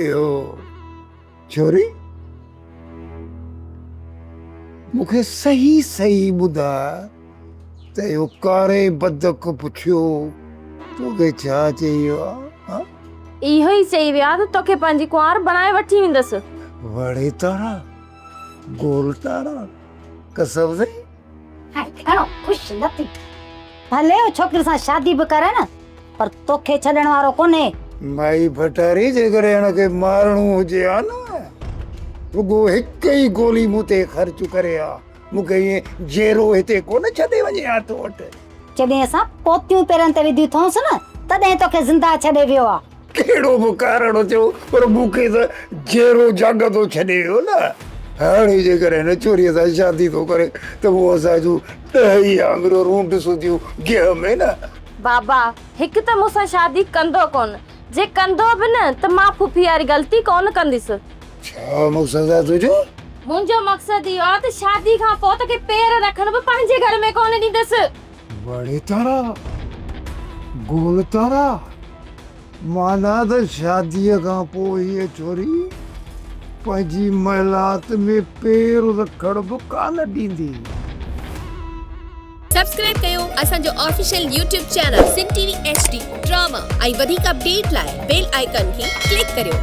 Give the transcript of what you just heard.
اهو ڇوري مون کي صحيح صحيح ٻڌاء ته اهو ڪاري بدڪ پٺيو توکي ڇا چيو آهي؟ اهو ئي چئي ويو آهي ته توکي پنهنجي ڪنوار بڻائي وٺي ويندس. وڙي تارا گول تارا قسم سائين. هاڻي گهڻو خوش نه ٿي. ڀلي هو ڇوڪري سان شادي به ڪرن پر توکي ڇڏڻ وارو ڪونهي. مائي ڀٽاري جيڪڏهن هن کي مارڻو هجي ها نه رڳو هڪ ئي گولي مون تي خرچ ڪري ها. مون کي ائين جيرو هتي ڪونه ڇڏي وڃي ها تو وٽ. جڏهن اسان پوتيون پيرن تي وڌيون اٿئونس نه تڏهن توکي زنده ڇڏي ويو ها. ڪهڙو به ڪارڻ هجيو پر مون کي ته جيرو جاڳندو ڇڏي ويو نه. هاڻي جيڪر هن ڇوريء سان شادي ٿو ڪري ته هو اسان جون ڏهه ئي آڱريون رونڊ سوڌيون گيهه ۾ نه. بابا، هڪ ته مون سان شادي ڪندو ڪونه، جي ڪندو به نه ته مان ڦڦي واري غلطي ڪونه ڪنديس. ڇا مقصد آهي تنهنجو؟ منهنجو مقصد اهو آهي ته شادي کان پوء توکي پير رکڻ به پنهنجي گهر ۾ ڪونه ڏينديس. وڙي تارا، گول تارا، معنيٰ ته شاديء کان پوء هيء ڇوري پنهنجي محلات ۾ پير رکڻ به ڪانه ڏيندي. سبسڪرائيب ڪيو اسان جو official YouTube channel Sindh T V H D drama ۽ وڌيڪ اپڊيٽ لاء بيل آئيڪان کي ڪلڪ ڪريو.